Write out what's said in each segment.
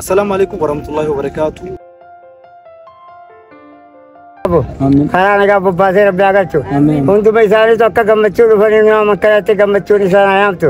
Assalaamu alaikum warahmatullahi wabarakatuh. karaa nagaa bobbaasee rabbi haa galchu hunduma isaaniitu akka gammachuu dhufanii nama makkanatti gammachuun isaan haa yaamtu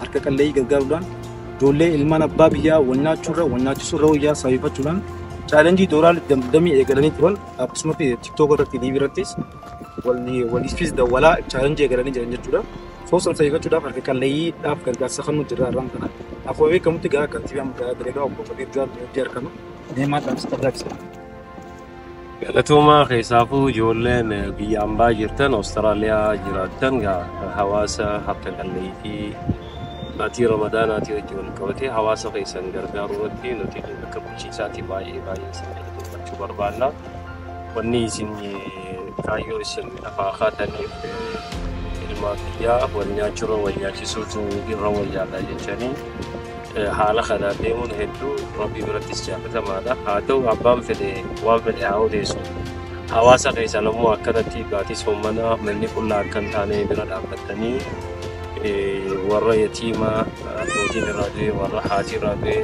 harka qalleeyyii gargaaruudhaan ijoollee ilmaan abbaa biyyaa wal nyaachuurra wal nyaachisuurra wayyaa sababeeffachuudhaan chaalenjii doolaarri damdamii eegalanii turan akkasumas tiktook irratti liiv irrattis waliifis dawwalaa chaalenjii eegalanii jiran jechuudha. Soo san sababeeffachuudhaaf harka qalleeyyiidhaaf gargaarsa kan nuti irraa irraan kana akkuma beekamutti gahaa kantiibaa magaalaa Dirreedhaa obbo Kabiir Jawaar Moojjii argama. Deemaa dhaamsa qabdaa ibsa. Galatoomaa keessaafuu ijoolleen biyya ambaa jirtan Awustiraaliyaa jiraattan gaa hawaasa harka qalleeyyii maatii ramadaanaatii wajji wal qabatee hawaasa keessan gargaaruu irratti nuti akka bulchiinsaatii baay'ee baay'ee isin galateeffachuu barbaanna. Wanni isin kaayyoo isin lafaa kaataniif ilmaan biyyaa wal nyaachurra wal nyaachisuutu irra wayyaadha jechanii Haala kanaan deemuun hedduu Rabbii birattis jaalatamaadha. Haa ta'u abbaan fedhe waan fedhe haa odeessu. Hawaasa keessan ammoo akkanatti baatii soommanaa manni qullaa akka hin taane bira dhaabbattanii warra yatiimaa abbootiin irraa du'e warra haati irraa du'e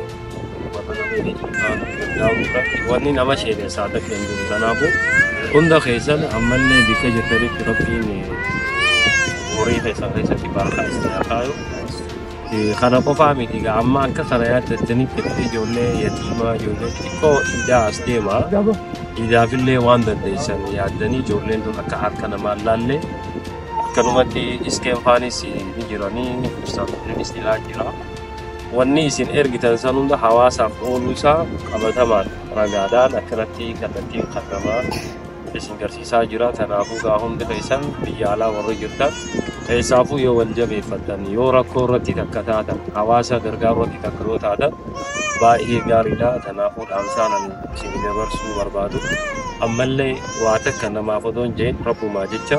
warra namni dhiibbaa gargaaruu irratti wanni nama sheenessaa takka hin jiru. Kanaafuu hunda keessan ammallee bikka jirtanitti Rabbiin horii keessan keessatti barakaa isin haa kaayu. Kana qofaa miti egaa amma akka karayaa jettanii jettee ijoollee yatiimaa ijoollee xixiqqoo iidaa as deema. Iidaafillee waan dandeessan yaaddanii ijoolleen tun akka harka namaa hin laalle akkanumatti iskeen faanis ni jiranii ibsaan kunis ilaa jira. Wanni isin ergitan san hunda hawaasaaf ooluu isaa qabatamaan ragaadhaan akkanatti kallattiin kan namaa isin garsiisaa jira kanaafuu gaa hundi keessan biyya alaa warri jirtan keessaafuu yoo wal jabeeffattan yoo rakkoo irratti takka taatan hawaasa gargaaruu irratti takka yoo taatan baay'ee gaariidha kanaafuu dhaamsaan ani isin dabarsuu barbaadu ammallee waa takka namaaf odoon jeen rabbumaa jecha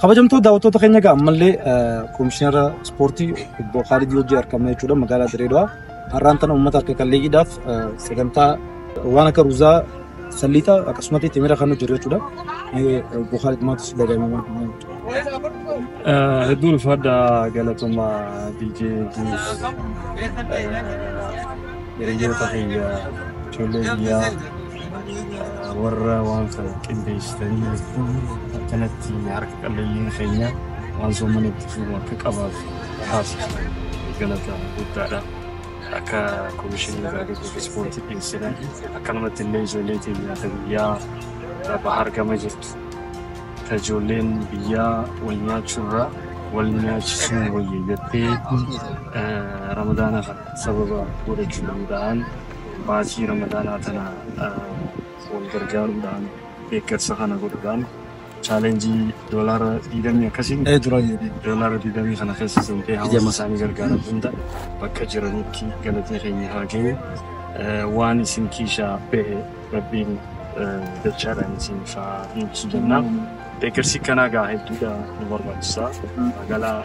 Kabajamtoota daawwattoota keenya egaa ammallee komishinara ispoortii obbo Kaalid Lojii argamna jechuudha magaalaa Dirreedawaa. Har'aan tana uummata harka qalleeyyiidhaaf sagantaa waan akka ruuzaa Salliixa akkasumatti timira kan hojjetu jechuudha. Bukaari dhumaatus dagaamemaa. Hedduu ulfaadha galatuma DJ Juus. Hiriyoota kiyya ijoollee biyyaa warra waan kana qindeessitanii akkanatti harka qalleeyyiin keenya waan soomanitti fuudhu akka qabaatu taasiftan galata guddaadha. akka komishinii gaazexoof ispoortii dhiyeessina akkanumatti illee ijoollee keenya ta biyyaa bahar gama jirtu ta ijoolleen biyyaa wal nyaachuurraa wal nyaachisuun wayya jettee ramadaana kana sababa godhachuu danda'an baasii ramadaanaa tana wal gargaaruudhaan deeggarsa kana godhuudhaan chaalenjii doolaara diidamii akkasiin ee dura jedhe doolaara diidamii kana keessa seentee hawaasa isaanii gargaaran hunda bakka jiranitti galatni keenya haa ga'u waan isin kiishaa ba'e rabbiin dachaadhaan isin faa deebisu jennaa deeggarsi kanaa gaa hedduudha nu barbaachisa magaalaa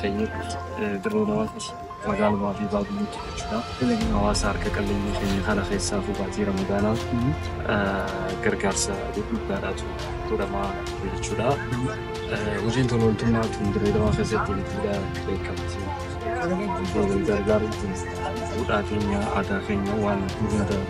keenyatti dirree namatti Magaalumaa fi baadiyyiitti jechuudha. Hawaasa harka qalleeyyii keenya kana keessaafuu baatii Ramadaanaa gargaarsa gurguddaadhaatu godhamaa ture jechuudha. Hojiin tola ooltummaa tun Dirree Dawaa keessatti ilbiidha beekamti. Wal gargaaruun kun duudhaa keenya, aadaa keenya waan hundaa ta'eef.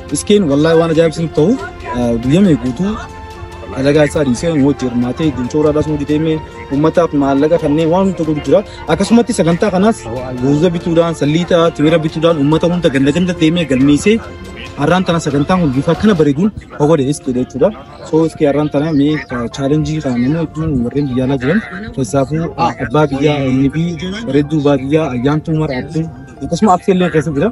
Iskeen wallaahi waan ajaa'ibsiif ta'u guyyamee guutuu dalagaa isaa dhiisee hojii hirmaatee dincoora dhasuu didee uummataaf maallaqa kanneen waan hunda godhu jira. Akkasumatti sagantaa kanaas ruuza bituudhaan salliita timira bituudhaan uummata hunda ganda ganda deemee galmeessee har'aan tana sagantaan kun bifa kana bareeduun hawwade iskee jechuudha. So iskee har'aan tana mee chaalenjii kana nama hedduun warreen biyya alaa jiran keessaafuu abbaa biyyaa NB bareedduu baadiyyaa ayyaantuu mara abduu akkasuma absee illee keessa jira.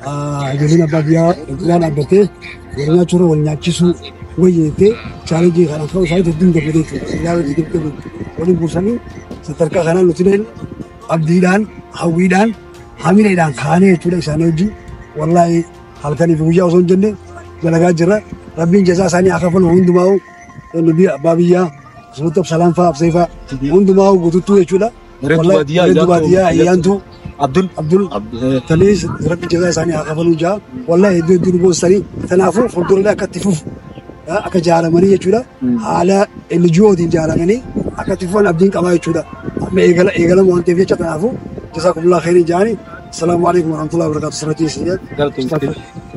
Ijoolleen abbaa biyyaa cinaa dhaabbattee wal nyaachuurra wal nyaachisuu wayyeettee chaalenjii kana ka'uu isaanii hedduun gammadee jechuudha. Ilaa wajjin deemtee waliin buusanii sadarkaa kanaan nuti illee abdiidhaan, hawwiidhaan, hamileedhaan kaanee jechuudha isaanii wajjin wallaahi halkanii fi guyyaa osoo hin jenne dalagaa jirra. Rabbiin jazaa isaanii haa kafalu hundumaa'u nubi abbaa biyyaa Sultan Salaam fa'aa Absee fa'aa hundumaa'u guututtuu jechuudha. Bareedu Wallahi, baadiyyaa bareedu ayyaantu baadiyyaa fayyadde. ayyaantu Abdul. Abdul Abdul. tanii rabbi jazaa isaanii haa kafaluu jaa wallahi hedduu hedduu nu boonsitanii kanaafuu fuuldurallee akka itti fufu yaa, akka jaaramanii jechuudha Mm. haala NGOtiin jaaramanii akka itti fufan abdiin qabaa jechuudha amma eegala eegalama waan ta'eef jecha kanaafuu jazaa kumulaa khairii jaanii asalaamu alaikum warahmatullahi wabarakatuh sirratii isin Galatoomte.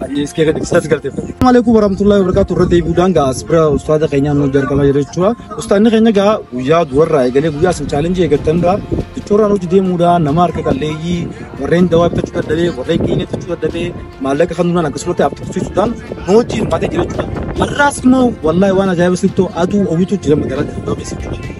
Hadiis kee gadi isas galteeffadhe. Maaleykum warahmatullahi wabarakatuh irra deebi'uudhaan gaa as bira ustaaza keenyaa nu jalqabaa jira jechuudha. Ustaanni keenya gaa guyyaa du'arraa eegalee guyyaa isin chaalenjii eegattanirraa jechoorraan hojii deemuudhaan nama harka qalleeyyii warreen dawaa bitachuu dadhabee warreen qiinee bitachuu dadhabee maallaqa kanuudhaan akkasumatti afxirsiisuudhaan nu hojii hirmaatee jira jechuudha. Har'aas immoo wallaahi waan ajaa'iba sittoo aduu owitu jira magaalaa Dirree Dawaa keessa jechuudha.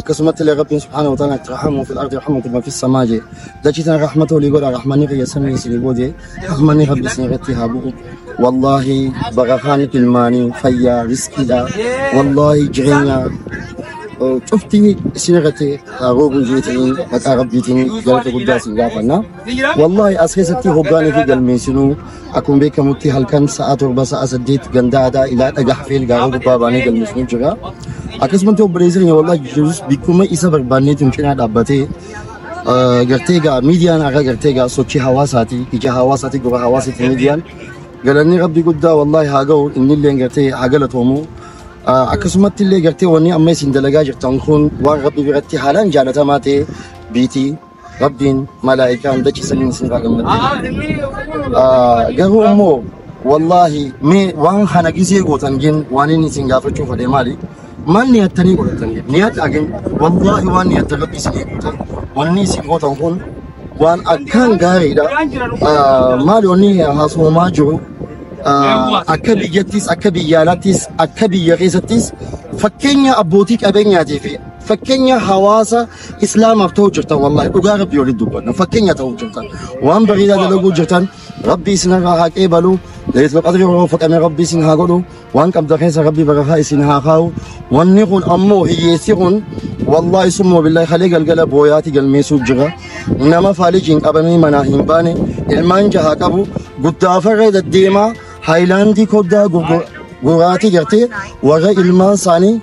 Akkasumatti illee Rabbiin subhaanahu wa ta'aala itti rahamu fil ardi rahmatullahi fis samaa jee. Dachii tana rahmata olii godha rahmanni kiyya samii isinii booje rahmanni Rabbi isin irratti haa bu'u. Wallaahi barakaan ilmaanii fayyaa riskiidha. Wallaahi jireenya eh, cufti isin irratti haa roobu jeetanii maqaa Rabbiitiin galata guddaa isin gaafanna. Wallaahi as keessatti hoggaanii fi galmeessinuu akkuma beekamutti halkan sa'a torba sa'a saddeet gandaa aadaa ilaa dhagaha fi ilgaaroo gubbaa baanee galmeessinuu jira. Akkasumatti obboleessi keenya wallaahi Yesuus bikkuma isa barbaanneetiin cinaa dhaabbatee eh, gartee gaa miidiyaan akka gartee gaa sochii hawaasaati ija hawaasaati gurra hawaasaati miidiyaan galanni rabbi guddaa wallaahi haa ga'u innillee gartee haa galatoomu. Eh, Akkasumatti illee gartee wanni amma isin dalagaa jirtan kun waan rabbi biratti haalaan jaalatamaa ta'e biitii Rabbiin malaa'ikaa hunda ciisanii isin irraa gammachiisu. Garuu immoo wallaahi mee waan kana gisee gootan jeen waan inni isin gaafachuu fadhee maali? Maal niyattanii godhatan jeen niyata agin wallaahi waan niyattan rabbi isin eeguutan wanni isin gootan kun waan akkaan gaariidha. Maali wanni haasoomaa jiru akka biyyattis akka biyya alaattis akka biyya keessattis fakkeenya abbootii qabeenyaatii fi fakkeenya hawaasa Islaamaaf ta'uu jirtan wallaahi dhugaa rabbii walitti dubbanna fakkeenya ta'uu jirtan waan bareedaa dalaguu jirtan rabbii isinirraa haa qeebalu leetla qadri yeroo fudhame rabbii isin haa godhu waan qabda keessa rabbii barakaa isin haa kaa'u wanni kun ammoo hiyyeessi kun wallaahi summoo billaahi kalee galgala booyaati galmeessuu jira nama faalijiin qabamee manaa hin baane ilmaan jahaa qabu guddaa farra deddeemaa haayilaandii koddaa gurguraatii gartee warra ilmaan isaanii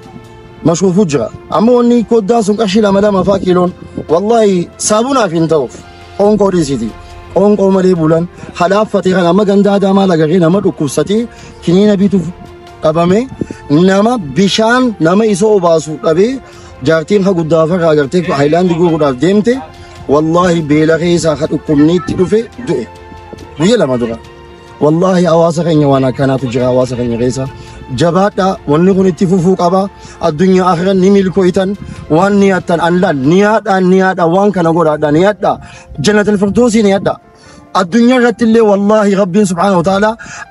mashuufuu jira amma wanni koddaan sun qarshii lama lama faa kiiloon wallahi saabunaaf hin ta'uuf qoonqoo dhiisiti qoonqoo malee bulan halaaffatee kan amma gandaa daamaa lagaqee nama dhukkubsatee kiniina bituuf dhabame nama bishaan nama isa obaasu dhabee jaartiin ha guddaa farraa agartee haayilaandi guuruudhaaf deemte wallahi beela keessaa ha dhukkubniitti dhufe du'e guyya lama dura. Wallaahi hawaasa keenya waan akkanaatu jira hawaasa keenya keessa. Jabaadhaa wanni kun itti fufuu qaba. Addunyaa akhiran ni milkooytan waan ni hattan an laal ni haadhaa ni haadhaa waan kana godhaadhaa ni hadhaa jannatul firdoosii ni hadhaa. Addunyaa irratti illee wallaahi rabbiin subhaanahu wa ta'ala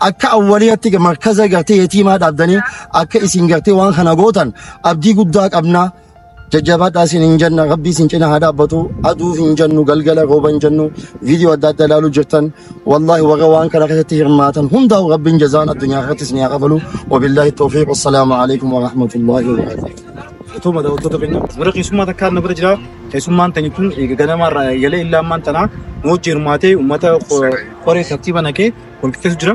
akka awwaliyatti markaza gartee yatiimaa dhaabdanii akka isin gartee waan kana gootan abdii guddaa qabnaa. Jajjabaadhaa siin hin jenna rabbii siin cina haa dhaabbatu aduu hin jennu galgala rooba hin jennu viidiyoo adda addaa ilaaluu jirtan wallaahi warra waan kana keessatti hirmaatan hundaa'u rabbiin jazaan addunyaa irratti isin haa kafalu wabillaahi toofiiq wassalaamu alaikum warahmatullaahi wabarakaatu. Galatooma daawwattoota keenya warra keessummaa takkaan na bira jira keessummaan tani tun ganamaarraa eegalee illaa ammaan tana nu hojii hirmaatee uummata koree tartiiba naqee wal qixxeessu jira.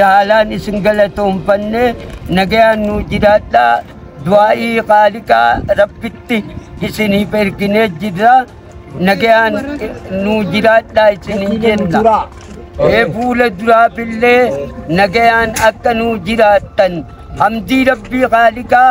haalaan isin galatoomfanne nagayaan nuu jiraadhaa du'aa'ii qaaliqaa rabbitti isiniif erginee jirra nagayaan nuu jiraadhaa isiniin jenna ee fuula duraafillee nagayaan akka nuu jiraattan hamdii rabbii qaaliqaa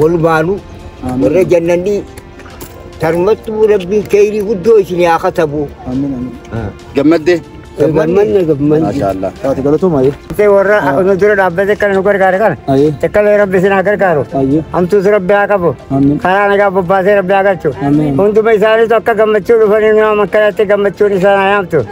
Walumaanuu warra jannannii tarmattuu rabbiin keeyrii guddoo isin haa katabu. Gammaddee. Gammanna gammanna. Maashaallah. Taate galatoomaa jee. Tee warra nu dura dhaabbate kana nu gargaare kana. Ayyee. Takkalee rabbi isin haa gargaaru. Ayyee. Hamtuus rabbi haa qabu. Amiin. Karaa nagaa bobbaasee rabbi haa galchu. Amiin. Hunduma isaaniitu akka gammachuu dhufanii nama makkalaatti gammachuun isaan haa yaamtu.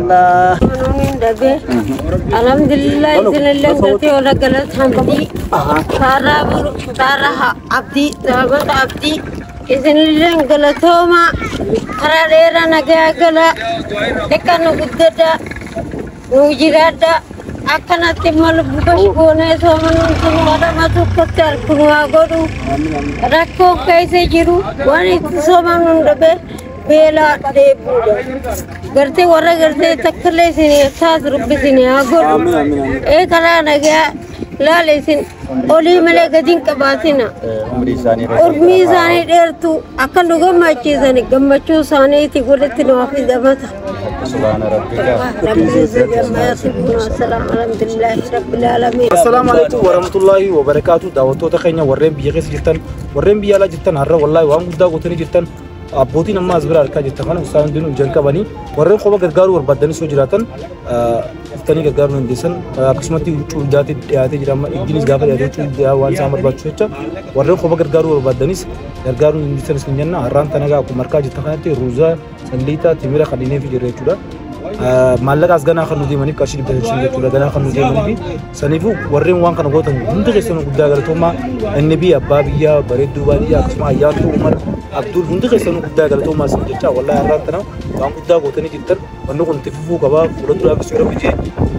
Nunin dhabe. Alhamdulillah isinillee galtee warra galata hamdii. Kaarraa bulu kaarraa abdii dhaabata abdii. Isinillee galatooma karaa dheeraa nagaa gala. Akka nu guddadha. Nu jiraadha. Akkanatti immoo lubbu bashi goonee soomanuun sun wadama tokkotti harkunu haa godhu. Rakkoo keessa jiru waan itti soomanuun dhabe. beelaa dheebuudha. Gartee warra gartee takkallee isin taas rabbi isin haa godhu. Ee karaa nagaa laala isin olii malee gadi hin qabaatina. Urmii isaanii dheertuu akka nu gammachiisan gammachuu isaaniiti walitti nu hafi dabata. Assalaamu alaikum warahmatullaahi wabarakaatu daawwattoota keenya warreen biyya keessa jirtan warreen biyya alaa jirtan har'a wallaahi waan guddaa gootanii jirtan Abbootiin amma as bira argaa jirtan kana isaan hundinuu jalqabanii warreen qofa gargaaruu barbaaddanis yoo jiraatan dhuftanii gargaaruu dandeessan akkasumatti huccuu ijaatti dhiyaatee jira amma ijjinis gaafa dhiyaate huccuu ijaa waan isaan barbaachisu jecha warreen qofa gargaaruu barbaaddanis gargaaruu dandeessan isin jenna har'aan kana egaa akkuma argaa jirtan kanatti ruuzaa salliitaa timira kan dhineefi jira jechuudha. Maallaqaas ganaa kan nu deemaniif qarshii dhibba shan jechuudha ganaa kan nu deemaniif Saniifuu warreen waan kana gootan hundi keessanuu guddaa galatoomaa NB abbaa biyyaa bareedduu baadiyyaa akkasuma ayyaantuu Umar Abdul hundi keessanuu guddaa galatoomaa isin jechaa wallahi har'aan tana waan guddaa gootanii jirtan wanni kun itti fufuu qaba fuula duraafis yoo rabbi jee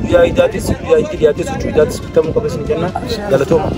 guyyaa idaatis guyyaa itti dhiyaatis huccuu idaatis bitamuu qaba isin jenna galatooma.